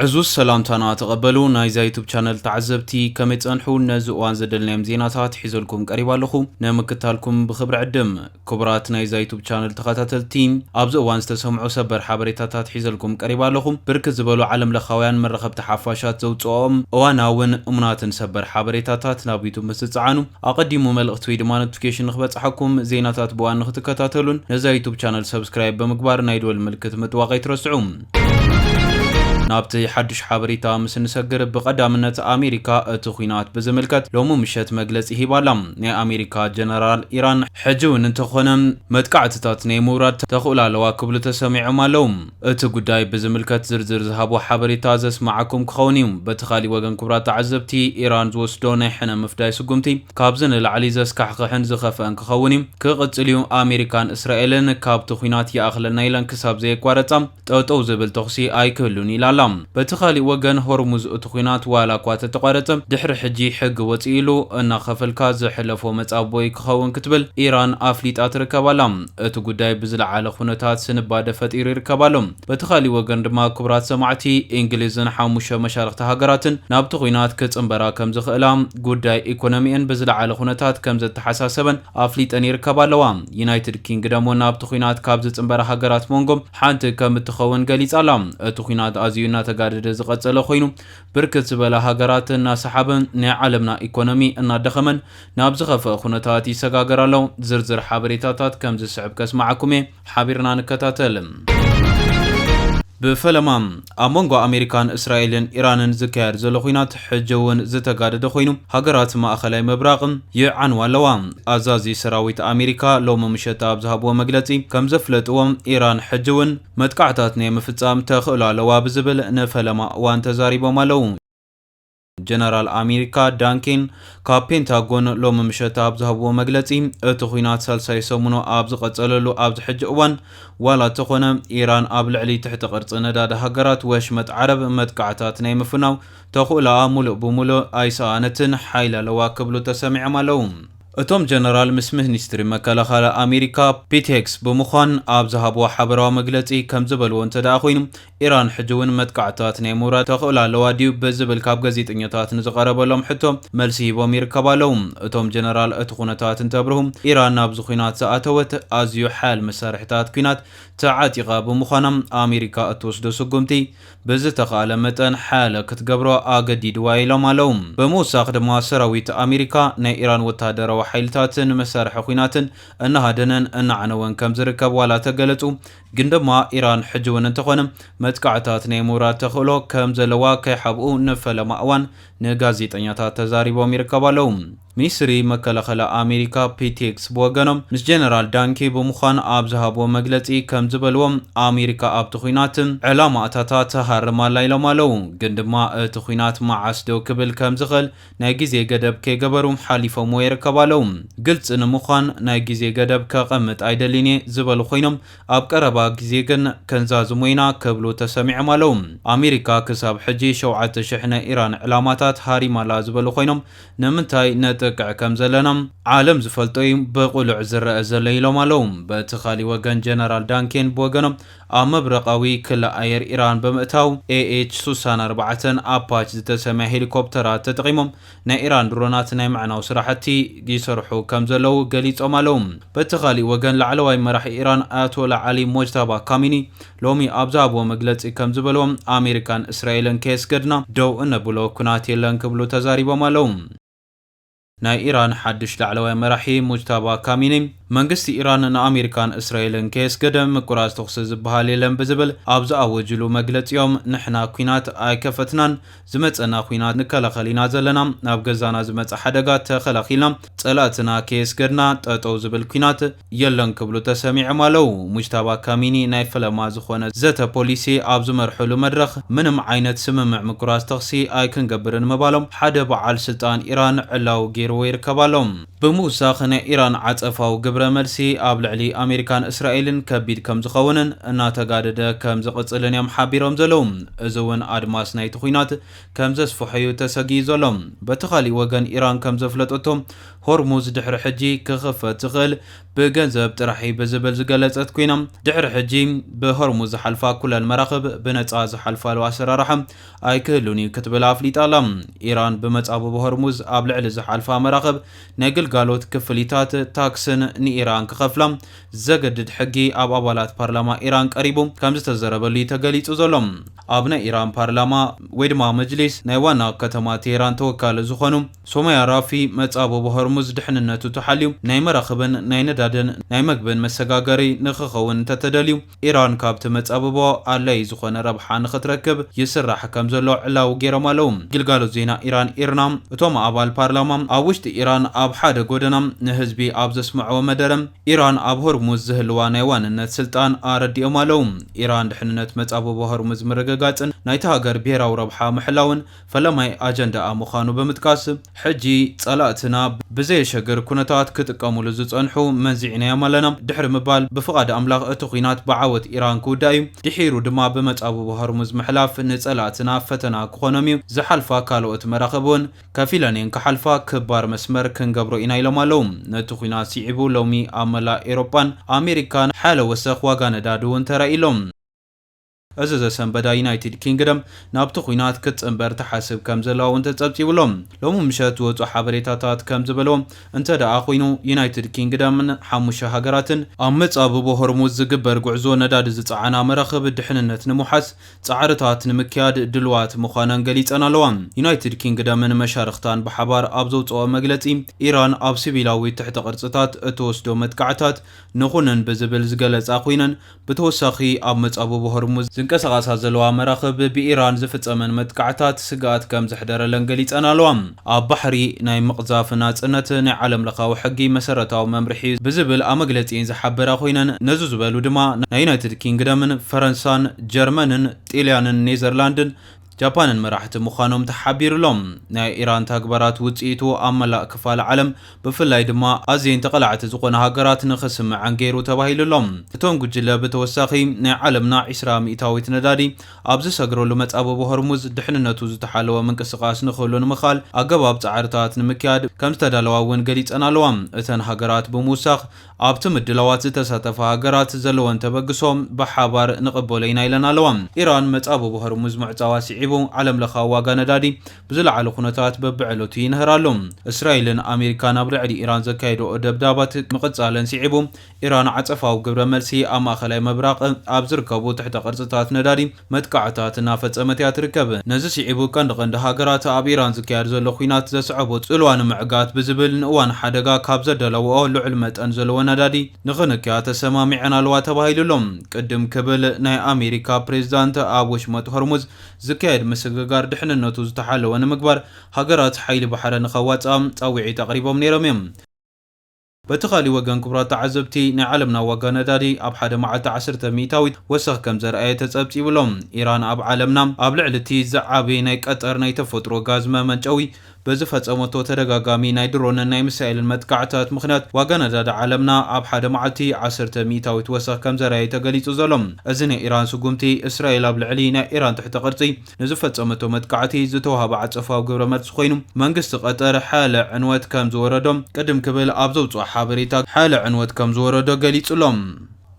ዕዙዝ ሰላምታና ተቐበሉ ናይዛ ዩቱብ ቻነል ተዓዘብቲ ከመይ ጸንሑ ነዚ እዋን ዘደልናዮም ዜናታት ሒዘልኩም ቀሪባ ኣለኹ ንምክታልኩም ብክብሪ ዕድም ክቡራት ናይዛ ዩቱብ ቻነል ተኸታተልቲ ኣብዚ እዋን ዝተሰምዑ ሰበር ሓበሬታታት ሒዘልኩም ቀሪባ ኣለኹ ብርክት ዝበሉ ዓለም ለኻውያን መራኸብቲ ሓፋሻት ዘውፅኦም እዋናውን እሙናትን ሰበር ሓበሬታታት ናብ ዩቱብ ምስ ዝፀዓኑ ኣቐዲሙ መልእኽቲ ወይ ድማ ኖቲፊኬሽን ንክበጽሓኩም፣ ዜናታት ብእዋን ንክትከታተሉን ነዛ ዩቱብ ቻነል ሰብስክራይብ ብምግባር ናይ ደወል ምልክት ምጥዋቕ ኣይትረስዑ። ናብቲ ሓዱሽ ሓበሬታ ምስ እንሰግር ብቐዳምነት ኣሜሪካ እቲ ኹናት ብዝምልከት ሎሚ ምሸት መግለጺ ሂባ ኣላ። ናይ ኣሜሪካ ጀነራል ኢራን ሕጂ እውን እንተኾነ መጥቃዕትታት ናይ ምውራድ ተኽእሎ ኣለዋ ክብሉ ተሰሚዖም ኣለው። እቲ ጉዳይ ብዝምልከት ዝርዝር ዝሃቦ ሓበሬታ ዘስመዓኩም ክኸውን እዩ። በቲ ካሊእ ወገን ክቡራት ተዓዘብቲ፣ ኢራን ዝወስዶ ናይ ሕነ ምፍዳይ ስጉምቲ ካብዚ ንላዕሊ ዘስካሕኽሕን ዝኸፈኣን ክኸውን እዩ ክቕፅል እዩ። ኣሜሪካን እስራኤልን ካብቲ ኹናት ይኣኽለና ኢለን ክሳብ ዘየቋረፃ ጠጠው ዝብል ተኹሲ ኣይክህሉን ኢላ ኣላ። በቲ ካሊእ ወገን ሆርሙዝ እቲ ኹናት ዋላ እኳ ተተቋረፀ ድሕሪ ሕጂ ሕጊ ወፂእሉ እናኸፈልካ ዝሕለፎ መፃብቦ እዩ ክኸውን ክትብል ኢራን ኣፍሊጣ ትርከብ ኣላ። እቲ ጉዳይ ብዝለዓለ ኩነታት ስንባደ ፈጢሩ ይርከብ ኣሎ። በቲ ካሊእ ወገን ድማ ክቡራት ሰማዕቲ፣ ኢንግሊዝን ሓሙሽተ መሻርኽቲ ሃገራትን ናብቲ ኩናት ክጽንበራ ከምዝኽእላ፣ ጉዳይ ኢኮኖሚኤን ብዝለዓለ ኩነታት ከምዘተሓሳሰበን ኣፍሊጠን ይርከባ ኣለዋ። ዩናይትድ ኪንግደም ውን ናብቲ ኩናት ካብ ዝጽንበራ ሃገራት ሞንጎ ሓንቲ ከምትኸውን ገሊጻ ኣላ። እቲ ኩናት ኣዝዩ እናተጋደደ ዝቐጸለ ኮይኑ ብርክት ዝበላ ሃገራት እናሰሓበን ናይ ዓለምና ኢኮኖሚ እናደኸመን ናብ ዝኸፍኣ ኩነታት ይሰጋገር ኣሎ። ዝርዝር ሓበሬታታት ከም ዝስዕብ ከስምዓኩም እየ። ሓቢርና ንከታተል። ብፈለማ ኣብ መንጎ ኣሜሪካን እስራኤልን ኢራንን ዝካየድ ዘሎ ኹናት ሕጂ እውን ዝተጋደደ ኮይኑ ሃገራት ማእኸላይ ምብራቕ ይዓንዋ ኣለዋ። ኣዛዚ ሰራዊት ኣሜሪካ ሎሚ ምሸት ኣብ ዝሃብዎ መግለፂ ከም ዘፍለጥዎ ኢራን ሕጂ እውን መጥቃዕታት ናይ ምፍፃም ተኽእሎ ኣለዋ ብዝብል ንፈለማ እዋን ተዛሪቦም ኣለው። ጀነራል ኣሜሪካ ዳን ኬን ካብ ፔንታጎን ሎሚ ምሸት ኣብ ዝሃብዎ መግለጺ፣ እቲ ኲናት ሳልሳይ ሰሙኑ ኣብ ዝቐጸለሉ ኣብዚ ሕጂ እዋን፣ ዋላ እተኾነ ኢራን ኣብ ልዕሊ ትሕቲ ቅርጺ ነዳዲ ሃገራት ወሽመጥ ዓረብ መጥቃዕታት ናይ ምፍናው ተኽእሎኣ ሙሉእ ብሙሉእ ኣይሰኣነትን ሓይሊ ኣለዋ ክብሉ ተሰሚዖም ኣለው። እቶም ጀነራል ምስ ምኒስትሪ መከላኸሊ ኣሜሪካ ፒት ሄግስ ብምዃን ኣብ ዝሃብዎ ሓበራዊ መግለጺ ከምዝበልዎ እንተድኣ ኮይኑ፣ ኢራን ሕጂ እውን መጥቃዕትታት ናይ ምውራድ ተኽእሎ ኣለዋ ድዩ ብዝብል ካብ ገዜጠኛታት ንዝቐረበሎም ሕቶ መልሲ ሂቦም ይርከቡ ኣለው። እቶም ጀነራል እቲ ኩነታት እንተብርሁ ኢራን ናብዚ ኲናት ዝኣተወት ኣዝዩ ሓያል መሳርሒታት ኲናት ተዓጢቓ ብምዃና ኣሜሪካ እትወስዶ ስጉምቲ ብዝተኽኣለ መጠን ሓያለ ክትገብሮ ኣገዲድዋ ኢሎም ኣለው። ብምውሳኽ ድማ ሰራዊት ኣሜሪካ ናይ ኢራን ወተሃደራዊ ሓይልታትን መሳርሒ ኲናትን እናሃደነን እናዓነወን ከምዝርከብ ዋላ ተገለፁ ግን ድማ ኢራን ሕጂ እውን እንተኾነ መጥቃዕታት ናይ ምውራድ ተኽእሎ ከም ዘለዋ ከይሓብኡ ንፈለማ እዋን ንጋዜጠኛታት ተዛሪቦም ይርከቡ ኣለዉ። ሚኒስትሪ መከላኸላ ኣሜሪካ ፒት ሄግስ ብወገኖም ምስ ጀነራል ዳንኬ ብምዃን ኣብ ዝሃብዎ መግለጺ ከም ዝበልዎ ኣሜሪካ ኣብቲ ኹናት ዕላማኣታታ ትሃርም ኣላ ኢሎም ኣለዉ። ግን ድማ እቲ ኹናት መዓስ ደው ክብል ከም ዝኽእል ናይ ግዜ ገደብ ከይገበሩ ሓሊፎምዎ ይርከቡ ኣለዉ። ግልፂ ንምዃን ናይ ግዜ ገደብ ከቐምጥ ኣይደልይን እየ ዝበሉ ኮይኖም ኣብ ቀረባ ግዜ ግን ከንዛዝሞ ኢና ክብሉ ተሰሚዖም ኣለዉ። ኣሜሪካ ክሳብ ሕጂ ሸውዓተ ሽሕ ናይ ኢራን ዕላማታት ሃሪማ ኣላ ዝበሉ ኮይኖም ንምንታይ ነጥቅዕ ከም ዘለና ዓለም ዝፈልጦ እዩ ብቕሉዕ ዝረኣ ዘሎ ኢሎም ኣለዉ። በቲ ካሊእ ወገን ጀነራል ዳን ኬን ብወገኖም ኣብ ምብራቓዊ ክሊ ኣየር ኢራን ብምእታው፣ ኤኤች ሱሳን ኣርባዕተን ኣፓች ዝተሰምያ ሄሊኮፕተራት ተጠቒሞም ናይ ኢራን ድሮናት ናይ ምዕናው ስራሕቲ ይሰርሑ ከምዘለዉ ገሊጾም ኣለዉ። በቲ ካሊእ ወገን ላዕለዋይ መራሒ ኢራን ኣያቶላ ዓሊ ሞጅታባ ካሚኒ ሎሚ ኣብ ዝሃብዎ መግለጺ ከምዝበልዎ፣ ኣሜሪካን እስራኤልን ከየስገድና ደው እነብሎ ኩናት የለን ክብሉ ተዛሪቦም ኣለዉ። ናይ ኢራን ሓድሽ ላዕለዋይ መራሒ ሙጅታባ ካሚኒ፣ መንግስቲ ኢራን ንኣሜሪካን እስራኤልን ከየስገደ ምቁራጽ ተኹሲ ዝበሃል የለን ብዝብል ኣብ ዝኣወጅሉ መግለጺ'ዮም ንሕና ኲናት ኣይከፈትናን፣ ዝመጸና ዂናት ንከላኸል ኢና ዘለና፣ ናብ ገዛና ዝመጽእ ሓደጋ ተኸላኺልና ጸላእትና ከየስገድና ጠጠው ዝብል ኲናት የለን ክብሉ ተሰሚዕም ኣለው። ሙጅታባ ካሚኒ ናይ ፈለማ ዝኾነ ዘተ ፖሊሲ ኣብ ዝመርሕሉ መድረኽ ምንም ዓይነት ስምምዕ ምቁራጽ ተኽሲ ኣይክንገብርን ምባሎም ሓደ በዓል ስልጣን ኢራን ዕላዊ ገይርዎ ይርከብ ኣሎ። ብምውሳኽ ናይ ኢራን ዓጸፋዊ ግብረ መልሲ ኣብ ልዕሊ ኣሜሪካን እስራኤልን ከቢድ ከም ዝኸውንን እናተጋደደ ከም ዝቕጽልን እዮም ሓቢሮም ዘለው። እዚ እውን ኣድማስ ናይቲ ኹናት ከም ዘስፍሖ እዩ ተሰጊኡ ዘሎ። በቲ ካሊእ ወገን ኢራን ከም ዘፍለጠቶ፣ ሆርሙዝ ድሕሪ ሕጂ ክኽፈት ዝኽእል ብገንዘብ ጥራሕ እዩ ብዝብል ዝገለጸት ኮይና፣ ድሕሪ ሕጂ ብሆርሙዝ ዝሓልፋ ኩለን መራኽብ ብነጻ ዝሓልፋሉ ኣሰራርሓ ኣይክህሉን እዩ ክትብል ኣፍሊጣ ኣላ። ኢራን ብመጻብቦ ሆርሙዝ ኣብ ልዕሊ ዝሓልፋ መራኽብ ናይ ግልጋሎት ክፍሊታት ታክስን ንኢራን ክኸፍላ ዘገድድ ሕጊ ኣብ ኣባላት ፓርላማ ኢራን ቀሪቡ ከምዝተዘረበሉ እዩ ተገሊጹ ዘሎ። ኣብ ናይ ኢራን ፓርላማ ወይ ድማ መጅሊስ ናይ ዋና ከተማ ቴህራን ተወካሊ ዝኾኑ ሶማያ ራፊ፣ መጻብቦ ሆርሙዝ ድሕንነቱ ተሓልዩ፣ ናይ መራኽብን ናይ ነዳድን ናይ መግብን መሰጋገሪ ንኽኸውን እንተተደልዩ፣ ኢራን ካብቲ መጻብቦ ኣድላዪ ዝኾነ ረብሓ ንኽትረክብ ይስራሕ ከምዘሎ ዕላዊ ገይሮም ኣለዉ። ግልጋሎት ዜና ኢራን ኢርና፣ እቶም ኣባል ፓርላማ ኣብ ውሽጢ ኢራን ኣብ ሓደ ጎደና ንህዝቢ ኣብ ዘስምዕዎ መደረ፣ ኢራን ኣብ ሆርሙዝ ዝህልዋ ናይ ዋንነት ስልጣን ኣረዲኦም ኣለዉ። ኢራን ድሕንነት መጻብቦ ሆርሙዝ ምርግጋጽን ናይታ ሃገር ብሄራዊ ረብሓ ምሕላውን፣ ፈለማይ ኣጀንዳኣ ምዃኑ ብምጥቃስ፣ ሕጂ ጸላእትና ብዘየሸግር ኩነታት ክጥቀሙሉ ዝጸንሑ መንዚዕናዮም ኣለና ድሕሪ ምባል፣ ብፍቓድ ኣምላኽ እቲ ኲናት ብዓወት ኢራን ክውዳእ እዩ፣ ድሒሩ ድማ ብመጻብቦ ሆርሙዝ ምሕላፍ ንጸላእትና ፈተና ክኾኖም እዩ፣ ዝሓልፋ ካልኦት መራኽብ እውን ከፊለን እየን ክሓልፋ፣ ክባር መስመር ክንገብሮ ኢና ኢሎም ኣለዉ። ነቲ ኲናት ስዒቡ ሎሚ ኣብ መላእ ኤውሮጳን ኣሜሪካን ሓያለ ወሰኽ ዋጋ ነዳዲ እውን ተራእዩ ኣሎ። እዚ ዘሰንበዳ ዩናይትድ ኪንግደም ናብቲ ኲናት ክትጽንበር ትሓስብ ከምዘላ'ውን ተጸብጺቡ ኣሎ። ሎሚ ምሸት ዝወጹ ሓበሬታታት ከምዝበልዎ እንተደኣ ኹይኑ ዩናይትድ ኪንግደምን ሓሙሽተ ሃገራትን፣ ኣብ መጻብቦ ሆርሙዝ ዝግበር ጉዕዞ ነዳዲ ዝጸዓና መራኽብ ድሕንነት ንምውሓስ ጻዕርታት ንምክያድ ድሉዋት ምዃነን ገሊጸን ኣለዋ። ዩናይትድ ኪንግደምን መሻርኽታን ብሓባር ኣብ ዘውጽእኦ መግለጺ፣ ኢራን ኣብ ሲቪላዊ ትሕተ ቅርጽታት እትወስዶ መጥቃዕታት ንኹንን ብዝብል ዝገለጻ ኹይነን፣ ብተወሳኺ ኣብ መጻብቦ ሆርሙዝ ዝንቀሳቐሳ ዘለዋ መራኽብ ብኢራን ዝፍጸመን መጥቃዕታት ስግኣት ከም ዘሕደረለን ገሊጸን ኣለዋ። ኣብ ባሕሪ ናይ ምቕዛፍ ናጽነት ናይ ዓለምለኻዊ ሕጊ መሰረታዊ መምርሒ'ዩ ብዝብል ኣብ መግለጺኤን ዝሓበራ ኮይነን ነዚ ዝበሉ ድማ ናይ ዩናይትድ ኪንግደምን ፈረንሳን ጀርመንን ጢልያንን ኔዘርላንድን ጃፓንን መራሕቲ ምዃኖም ተሓቢሩ'ሎ። ናይ ኢራን ተግባራት ውጽኢቱ ኣብ መላእ ክፋል ዓለም ብፍላይ ድማ ኣዝየን ተቓላዕቲ ዝኾና ሃገራት ንኽስምዐን ገይሩ ተባሂሉ'ሎ። እቶም ጉጅለ ብተወሳኺ ናይ ዓለምና ዕስራ ሚእታዊት ነዳዲ ኣብ ዝሰግረሉ መጻብቦ ሆርሙዝ ድሕንነቱ ዝተሓለወ ምንቅስቓስ ንኽህሉ ንምኽኣል ኣገባብ ጻዕርታት ንምክያድ ከምዝተዳለዋ'ውን ገሊጸን ኣለዋ እተን ሃገራት ብምውሳኽ ኣብቲ ምድላዋት ዝተሳተፋ ሃገራት ዘለወን ተበግሶ ብሓባር ንቕበሎ ኢና ኢለን ኣለዋ። ኢራን መጻብቦ ሆርሙዝ ምዕጻዋ ስዒቡ ዓለምለኻዊ ዋጋ ነዳዲ ብዝለዓለ ኩነታት በብዕለቱ ይንህር ኣሎ። እስራኤልን ኣሜሪካን ኣብ ልዕሊ ኢራን ዘካየድኦ ደብዳባት ምቕጻለን ስዒቡ ኢራን ዓጸፋዊ ግብረ መልሲ ኣብ ማእከላይ ምብራቕ ኣብ ዝርከቡ ትሕተ ቅርጽታት ነዳዲ መጥቃዕታት እናፈጸመት እያ ትርከብ። ነዚ ስዒቡ ቀንዲ ቀንዲ ሃገራት ኣብ ኢራን ዝካየድ ዘሎ ኲናት ዘስዐቦ ጽልዋ ንምዕጋት ብዝብል ንእዋን ሓደጋ ካብ ዘዳለወኦ ልዑል መጠን ዘለዎ ነዳዲ ንኽንክያ ተሰማሚዐን ኣለዋ ተባሂሉ ኣሎ። ቅድም ክብል ናይ ኣሜሪካ ፕሬዝዳንት ኣብ ወሽመጥ ሆርሙዝ ዝካየድ ምስግጋር ድሕንነቱ ዝተሓለወ ንምግባር ሃገራት ሓይሊ ባሕረ ንኸዋጽኣ ጻውዒት ኣቕሪቦም ነይሮም እዮም። በቲ ካሊእ ወገን ክቡራት ተዓዘብቲ ናይ ዓለምና ዋጋ ነዳዲ ኣብ ሓደ መዓልቲ ዓሰርተ ሚእታዊት ወሰኽ ከምዘርኣየ ተፀብፂቡ ኣሎ። ኢራን ኣብ ዓለምና ኣብ ልዕሊ እቲ ዝዓበየ ናይ ቀጠር ናይ ተፈጥሮ ጋዝ መመንጨዊ በዝፈፀመቶ ተደጋጋሚ ናይ ድሮንን ናይ ሚሳኤልን መጥቃዕትታት ምኽንያት ዋጋ ነዳዲ ዓለምና ኣብ ሓደ መዓልቲ ዓሰርተ ሚእታዊት ወሰኽ ከምዘርኣየ ተገሊፁ ዘሎ እዚ ናይ ኢራን ስጉምቲ እስራኤል ኣብ ልዕሊ ናይ ኢራን ትሕተ ቅርፂ ንዝፈጸመቶ መጥቃዕቲ ዝተዋህበ ዓጸፋዊ ግብረመልሲ ኮይኑ፣ መንግስቲ ቀጠር ሓያለ ዕንወት ከም ዝወረዶ ቅድም ክብል ኣብ ዘውጽኦ ሓበሬታ ሓያለ ዕንወት ከም ዝወረዶ ገሊጹ'ሎ።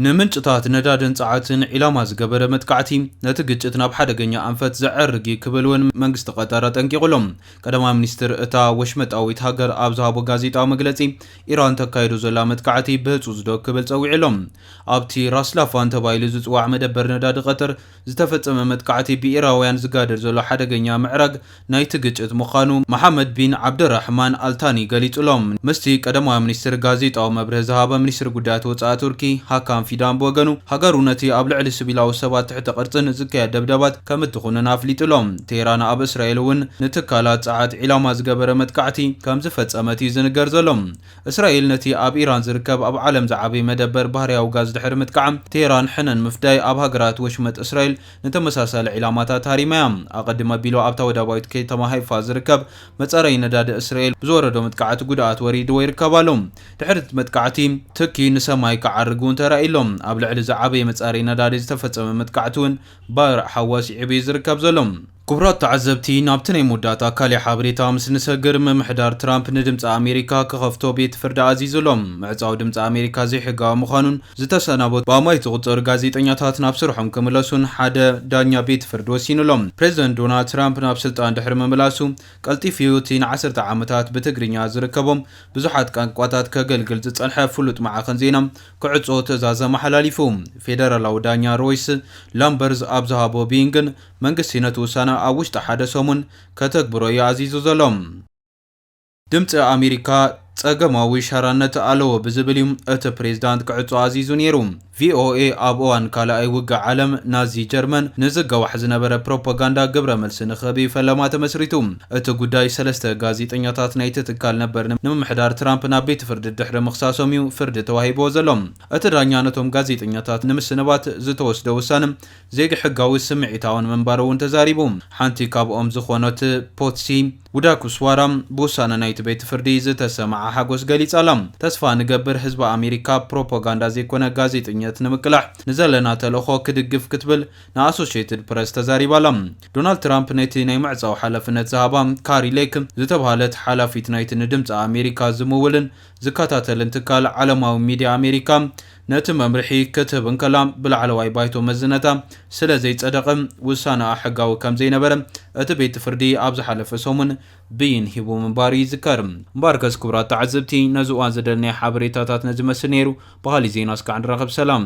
ንምንጭታት ነዳድን ጸዓትን ዒላማ ዝገበረ መጥቃዕቲ፣ ነቲ ግጭት ናብ ሓደገኛ ኣንፈት ዘዕርግ'ዩ ክብል'ውን መንግስቲ ቀጠር ኣጠንቂቑ'ሎ። ቀዳማይ ሚኒስትር እታ ወሽመጣዊት ሃገር ኣብ ዝሃቦ ጋዜጣዊ መግለጺ፣ ኢራን ተካይዶ ዘላ መጥቃዕቲ ብህጹጽ'ዶ ክብል ጸዊዑ'ሎ። ኣብቲ ራስ ላፋን ተባሂሉ ዝጽዋዕ መደበር ነዳዲ ቀጠር፣ ዝተፈጸመ መጥቃዕቲ ብኢራውያን ዝጋደድ ዘሎ ሓደገኛ ምዕራግ ናይቲ ግጭት ምዃኑ መሓመድ ቢን ዓብደራሕማን ኣልታኒ ገሊጹ ኣሎ። ምስቲ ቀዳማይ ሚኒስትር ጋዜጣዊ መብርሂ ዝሃበ ሚኒስትሪ ጉዳያት ወጻኢ ቱርኪ ሃካን ፊዳን ብወገኑ፣ ሃገሩ ነቲ ኣብ ልዕሊ ስቪላዊ ሰባት ትሕተ ቅርጽን ዝካየድ ደብዳባት ከም እትኹንን ኣፍሊጡ ኣሎ። ቴህራን ኣብ እስራኤል'ውን ንትካላት ጸዓት ዒላማ ዝገበረ መጥቃዕቲ ከም ዝፈጸመት'ዩ ዝንገር ዘሎ። እስራኤል ነቲ ኣብ ኢራን ዝርከብ ኣብ ዓለም ዝዓበየ መደበር ባህርያዊ ጋዝ ድሕሪ ምጥቃዓ፣ ቴህራን ሕነ ንምፍዳይ ኣብ ሃገራት ወሽመጥ እስራኤል ንተመሳሳሊ ዒላማታት ሃሪማ እያ። ኣቐድም ኣቢሉ ኣብታ ወደባዊት ከተማ ሃይፋ ዝርከብ መጻረዪ ነዳዲ እስራኤል ብዝወረዶ መጥቃዕቲ ጉድኣት ወሪድዎ ይርከብ ኣሎ። ድሕሪ እቲ መጥቃዕቲ፣ ትኪ ንሰማይ ክዓርግ እውን ተራእዩ ኣሎ። ኣብ ልዕሊ እዚ ዓበየ መጻረዪ ነዳዲ ዝተፈጸመ መጥቃዕቲ እውን ባርዕ ሓዊ ኣስዒቡ እዩ ዝርከብ ዘሎ። ክቡራት ተዓዘብቲ፣ ናብቲ ናይ መወዳእታ ካልእ ሓበሬታ ምስ ንሰግር፣ ምምሕዳር ትራምፕ ንድምጺ ኣሜሪካ ክኸፍቶ ቤት ፍርዲ ኣዚዙ ኣሎ። ምዕጻው ድምጺ ኣሜሪካ ዘይሕጋዊ ምዃኑን ዝተሰናበቱ ብኣማኢት ዝቑጸሩ ጋዜጠኛታት ናብ ስርሖም ክምለሱን ሓደ ዳኛ ቤት ፍርዲ ወሲኑ ኣሎ። ፕረዚደንት ዶናልድ ትራምፕ ናብ ስልጣን ድሕሪ ምምላሱ ቀልጢፉ'ዩ እቲ ንዓሰርተ ዓመታት ብትግርኛ ዝርከቦም ብዙሓት ቃንቋታት ከገልግል ዝጸንሐ ፍሉጥ ማዕኸን ዜና ክዕጾ ትእዛዝ ኣመሓላሊፉ። ፌደራላዊ ዳኛ ሮይስ ላምበርዝ ኣብ ዝሃቦ ብይን ግን መንግስቲ ነቲ ውሳነ ኣብ ውሽጢ ሓደ ሰሙን ከተግብሮ እዩ ኣዚዙ ዘሎ። ድምጺ ኣሜሪካ ጸገማዊ ሻራነት ኣለዎ ብዝብል እዩ እቲ ፕሬዚዳንት ክዕጾ ኣዚዙ ነይሩ። ቪኦኤ ኣብ እዋን ካልኣይ ውግእ ዓለም ናዚ ጀርመን ንዝገዋሕ ዝነበረ ፕሮፓጋንዳ ግብረ መልሲ ንክህብ እዩ ፈለማ ተመስሪቱ። እቲ ጉዳይ ሰለስተ ጋዜጠኛታት ናይቲ ትካል ነበር ንምምሕዳር ትራምፕ ናብ ቤት ፍርዲ ድሕሪ ምኽሳሶም እዩ ፍርዲ ተዋሂብዎ ዘሎ። እቲ ዳኛ ነቶም ጋዜጠኛታት ንምስንባት ዝተወስደ ውሳነ ዘይሕጋዊ ስምዒታውን ምንባሩ እውን ተዛሪቡ። ሓንቲ ካብኦም ዝኾኖት ፖትሲ ዉዳኩስዋራ ብውሳነ ናይቲ ቤት ፍርዲ ዝተሰመዓ ሓጎስ ገሊጻ'ላ። ተስፋ ንገብር ህዝቢ ኣሜሪካ ፕሮፖጋንዳ ዘይኮነ ጋዜጠኝነት ንምቅላሕ ንዘለና ተልእኾ ክድግፍ ክትብል ንኣሶሸይትድ ፕረስ ተዛሪባ'ላ። ዶናልድ ትራምፕ ነቲ ናይ ምዕጻው ሓላፍነት ዝሃባ ካሪ ሌክ ዝተብሃለት ሓላፊት ናይቲ ንድምጺ ኣሜሪካ ዝምውልን ዝከታተልን ትካል ዓለማዊ ሚድያ ኣሜሪካ ነቲ መምርሒ ክትህብ እንከላ ብላዕለዋይ ባይቶ መዝነታ ስለ ዘይጸደቐ ውሳነኣ ሕጋዊ ከም ዘይነበረ እቲ ቤት ፍርዲ ኣብ ዝሓለፈ ሰሙን ብይን ሂቡ ምንባሩ ይዝከር። እምበኣርከስ ክቡራት ተዓዘብቲ ነዚ እዋን ዘደለናዮ ሓበሬታታት ነዚ ይመስል ነይሩ። ብኻሊእ ዜና እስካዕ ንራኸብ ሰላም።